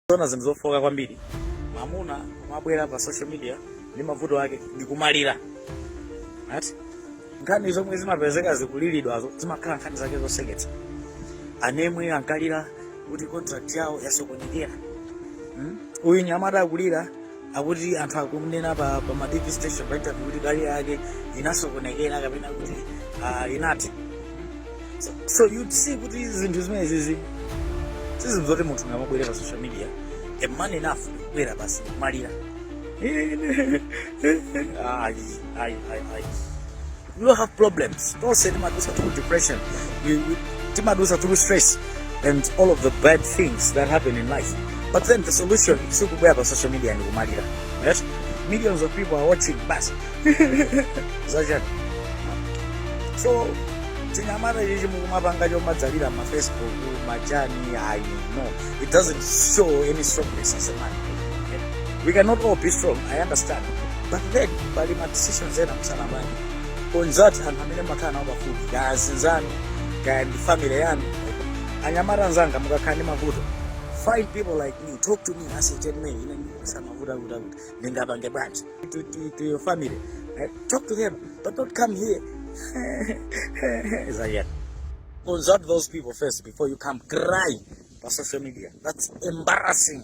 Zona zinthu zofoka kwambiri mamuna kumabwera pa social media ndi mavuto ake ndikumalira right? nkhani zomwe zimapezeka zikulilidwazo zimakhala nkhani zake zoseketsa anamwe ankalira kuti contract yawo yasokonekera hmm? uyu mnyamata akulira akuti anthu akunena pa, pa ma tv station pa interview kuti career yake inasokonekera kapena kuti ah, inati so, so you see kuti zinthu zimenezizi sizinthu zoti munthu ungamabwere pa social media a man enough kubwera basi kumalira ayi ayi ayi ayi you don't have problems tonse timadusa through depression you, you, timadusa through stress and all of the bad things that happen in life but then the solution sikubwera pa social media ndi kumalira right? millions of people are watching bas zachani so tinyamata chichi mukumapanga chomadzalira ma facebook machani ayi no it doesn't show any strongness as a man we cannot all be strong i understand but then pali ma decisions ena musanapange onani anthu amene mumakhala nawo pafupi kaya azinzanu kaya ndi family yanu anyamata anzanga mukakhala ndi mavuto find people like me talk to me as a gentleman ine samavuta kuta kuti ndingapange bwanji to, to, to your family eh, talk to them but don't come here zayena consult those people first before you come cry pa social media that's embarrassing